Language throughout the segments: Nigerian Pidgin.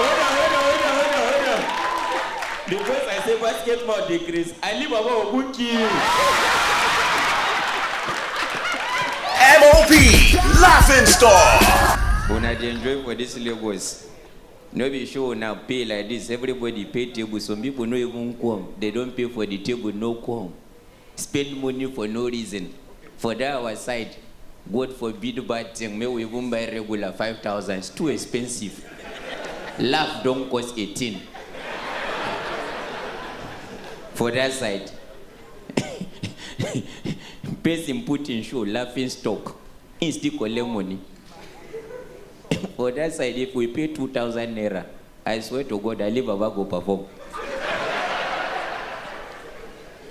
Hold on, hold on, hold on, hold on, hold on. The voice I say what get more decrease. I leave Baba Ogun kill. MOP Laughing Star. Una dey enjoy for this Lagos. No be show una pay like this. Everybody pay table. Some people no even come. They don pay for the table, no come. Spend money for no reason for that our side God forbid bad thing make we even buy regular five thousand it's too expensive laugh don cause a thing for that side person put him shoe laughing stock him still collect money for that side if we pay two thousand naira I swear to God I leave Baba go perform.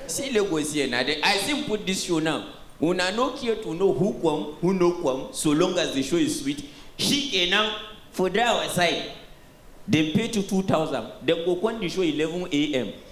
See Lagos here na the I see him put this show now. Una no care to know who come, who no come, so long as the show is sweet. She can now for that our side. Dem pay to 2000, dem go come the show 11 a.m.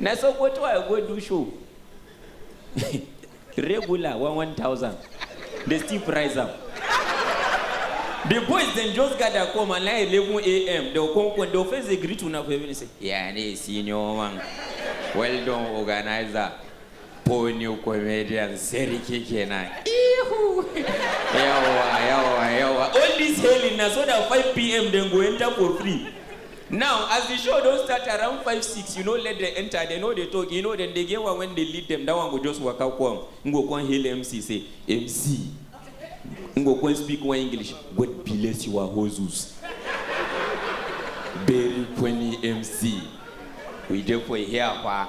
Na Sokoto I go do show. Regular one one thousand. They still price am. The boys dem just gather come and like eleven a.m. They go come come. They go first dey greet una for evening say, "Yeah, ne senior man. Well done, organizer." Ponyo comedian sarki kenan. Ihu. Yawa yawa yawa. All this hailing na so that 5 pm dem go enter for free. Now as the show don start around 5 6 you no let dem enter dem no dey talk you know dem dey get one when dey lead dem that one go just waka come im go come hail MC say MC im go come speak one English God bless your hustles. Very funny MC. We dey for here pa.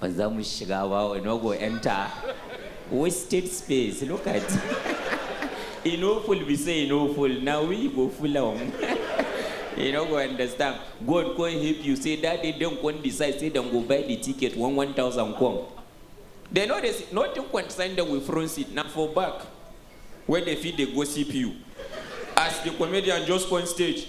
ba za mu shiga ba we no go enter wasted space look at e no full be say e no full na we go full am e no go understand god come help you say that day dem come decide say dem go buy the ticket one one thousand come dem no dey see nothing concern dem with front seat na for back wey dem fit dey gossip you as the comedian just come stage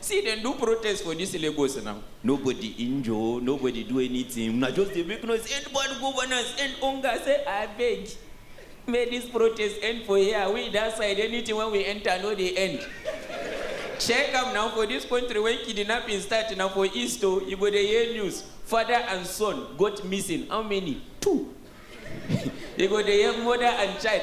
See dem do protest for dis Lagos now, nobody injure, nobody do anything, una just dey make noise, end bad governance, end hunger, say abeg make dis protest end for here, we dat side anything wey we enter no dey end, check am now for dis country when kidnapping start na for east o, you go dey hear news, father and son got missing, how many? two, you go dey hear mother and child.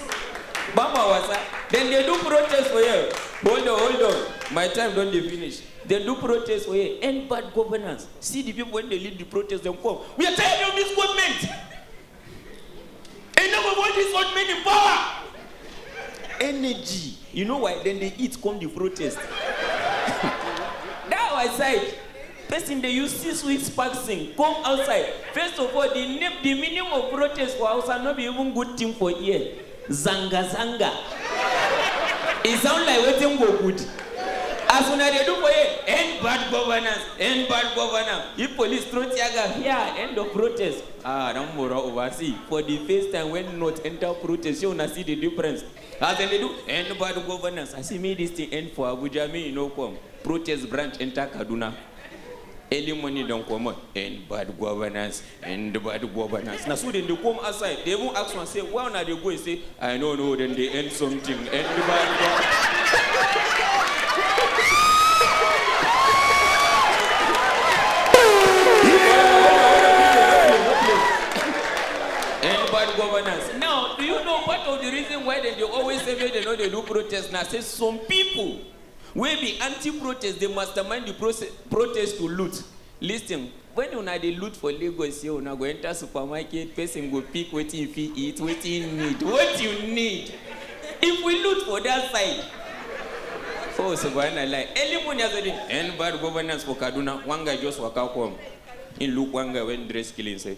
Bamba wasa, dem dey do protest for here. Hold on, hold on, my time don dey finish. Dem do protest for here, end bad governance. See the people wey dey lead the protest, dem come. We are tired of this government. Enough of all this old men in power. Energy, you know why? Dem dey eat come the protest. That our side. Pesin dey use six weeks fasting come outside, first of all, di name, di meaning of protest for Hausa no be even good tin for ear, zanga zanga, e sound like wetin go good, as una dey do for here, end bad governance, end bad governance, if police throw tear gas, hia, end of protest, ah, Danmoro Uba, see, for di first time wen North enter protest, shey una see di difference? As dem dey do end bad governance, I say make this thing end for Abuja, make e no come protest branch enter Kaduna. Early morning don comot, end bad governance, end bad governance. Na so dem dey come outside, dey even ask one say where una dey go, e say I no know, dem dey end something, end bad governance. End bad governance. Now, do you know part of the reason why dem dey always say make dem no dey do protest na say some pipo wey be anti-protest dey mastermind di proce protest to loot. Listen, wen una dey loot for Lagos here, una go enta supermarket, pesin go pick wetin e fit eat, wetin e need, what you need. If we loot for dat side, oh subhanallah, early morning as I dey, end bad governance for Kaduna, one guy just waka come, im look one guy wey dress clean say,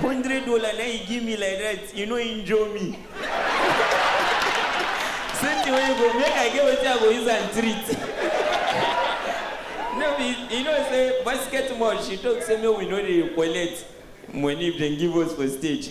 Hundred dollar na you give me like that, you no injure me. Same thing wey you go make I get wetin I go use am treat. No be, you know say basket mouth she talk say make we no dey collect money if dem give us for stage.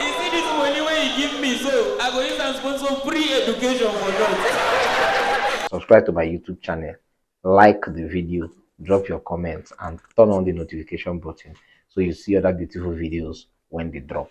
You see this money wey you give me so, I go use am sponsor free education for North. Subscribe to my YouTube channel, like the video, drop your comments and turn on the notification button so you see other beautiful videos when they drop.